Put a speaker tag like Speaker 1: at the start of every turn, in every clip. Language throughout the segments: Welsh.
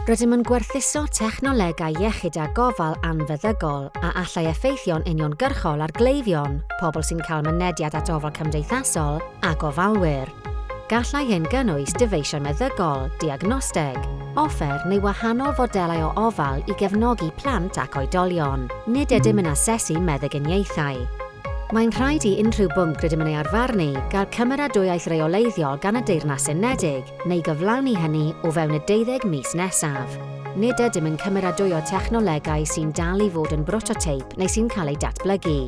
Speaker 1: Rydym yn gwerthuso technolegau iechyd a gofal anfeddygol a allai effeithio'n uniongyrchol ar gleifion, pobl sy'n cael mynediad at ofal cymdeithasol a gofalwyr. Gallai hyn gynnwys dyfeisiau meddygol, diagnosteg, offer neu wahanol fodelau o ofal i gefnogi plant ac oedolion. Nid ydym yn asesu meddyginiaethau. Mae'n rhaid i unrhyw bwnc rydym yn ei arfarnu gael cymeradwyaeth reoleiddiol gan y Deyrnas Unedig, neu gyflawni hynny o fewn y deuddeg mis nesaf. Nid ydym yn cymeradwyo technolegau sy'n dal i fod yn brototeip neu sy'n cael eu datblygu.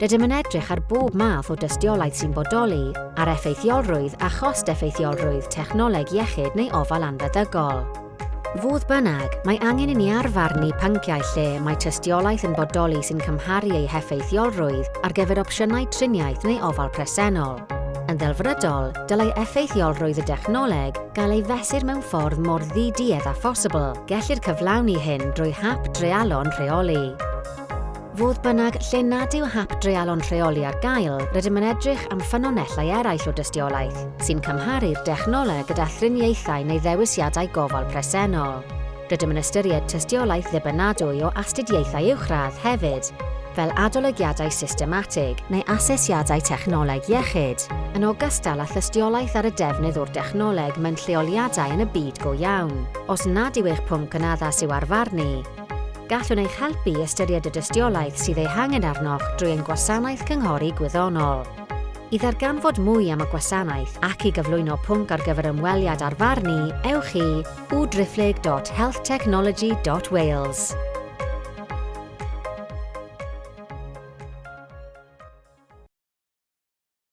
Speaker 1: Rydym yn edrych ar bob math o dystiolaeth sy'n bodoli, ar effeithiolrwydd a chost-effeithiolrwydd technoleg iechyd neu ofal anfeddygol. Fodd bynnag, mae angen i ni arfarnu pynciau lle mae tystiolaeth yn bodoli sy'n cymharu eu heffeithiolrwydd ar gyfer opsiynau triniaeth neu ofal presennol. Yn ddelfrydol, dylai effeithiolrwydd y dechnoleg gael ei fesur mewn ffordd mor ddi-duedd â phosibl, gellir cyflawni hyn drwy hap dreialon rheoli. Fodd bynnag, lle nad yw hap dreialon rheoli ar gael, rydym yn edrych am ffynonellau eraill o dystiolaeth, sy'n cymharu'r dechnoleg gyda thriniaethau neu ddewisiadau gofal presennol. Rydym yn ystyried tystiolaeth ddibynadwy o astudiaethau uwchradd hefyd, fel adolygiadau systematig neu asesiadau technoleg iechyd, yn ogystal â thystiolaeth ar y defnydd o'r dechnoleg mewn lleoliadau yn y byd go iawn. Os nad yw eich pwnc yn addas i'w arfarnu, Gallwn eich helpu i ystyried y dystiolaeth sydd ei hangen arnoch drwy ein gwasanaeth cynghori gwyddonol. I ddarganfod mwy am y gwasanaeth ac i gyflwyno pwnc ar gyfer ymweliad ar farn ni, ewch i www.healthtechnology.wales.